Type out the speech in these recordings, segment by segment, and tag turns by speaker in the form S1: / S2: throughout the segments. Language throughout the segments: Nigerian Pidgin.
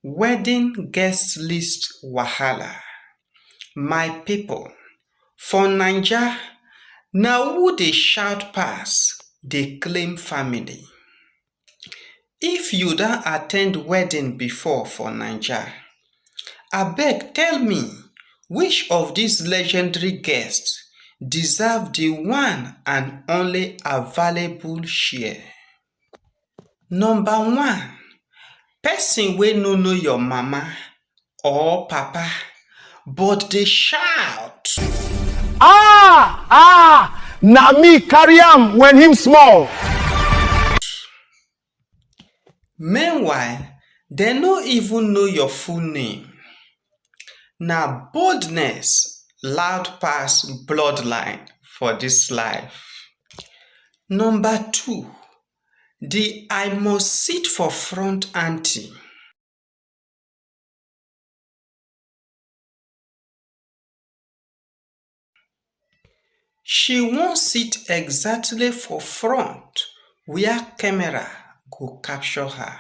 S1: Wedding guest list wahala, my people for naija na who dey shout pass dey claim family. If you don attend wedding before for naija abeg tell me which of this legendary guest deserve the one and only available share. Number one, pesin wey no know your mama or papa but dey shout. Ah! Ah! Na me carry am when him small. Meanwhile, dem no even know your full name. Na boldness loud pass blood line for dis life. Number two, the I must sit for front anti. she wan sit exactly for front where camera go capture her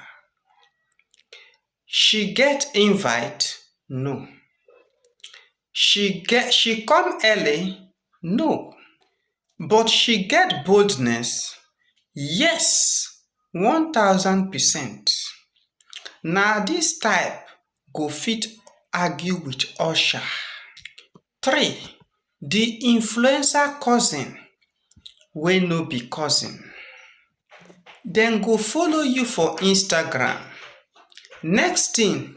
S1: she get invite? no she get she come early? no but she get boldness? yes one thousand percent na this type go fit argue with usher three di influencer cousin wey no be cousin dem go follow you for instagram next thing.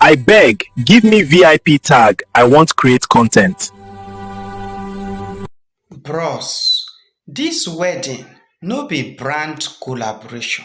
S1: I beg give me vip tag I want create content. Bros this wedding no be brand collaboration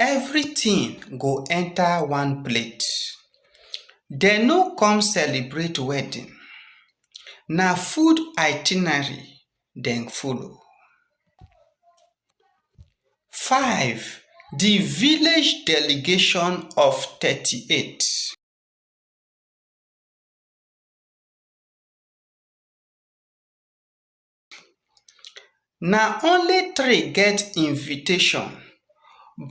S1: everything go enter one plate dem no come celebrate wedding na food itinerary dem follow. five the village delegation of thirty eight na only three get invitation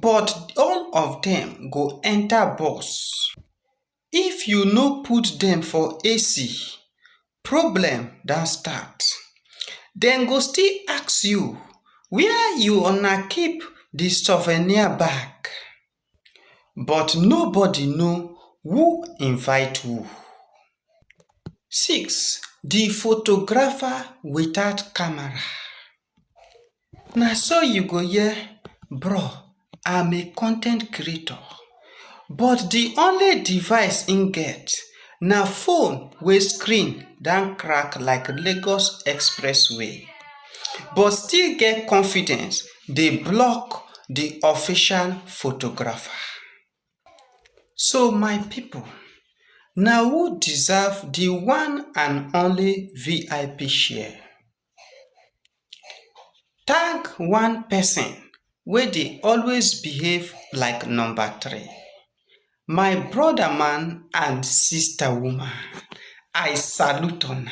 S1: but all of dem go enter bus. if you no put dem for AC problem don start dem go still ask you where you una keep the souvenir bag. but nobody know who invite who. 6, Di photographer without camera Na so you go hear bro I'm a content creator but di only device im get na phone wey screen don crack like Lagos expressway but still get confidence dey block the official photographer. So my people, na who deserve the one and only VIP share? Tag one person wey dey always behave like number three. My brother man and sister woman, I salute una.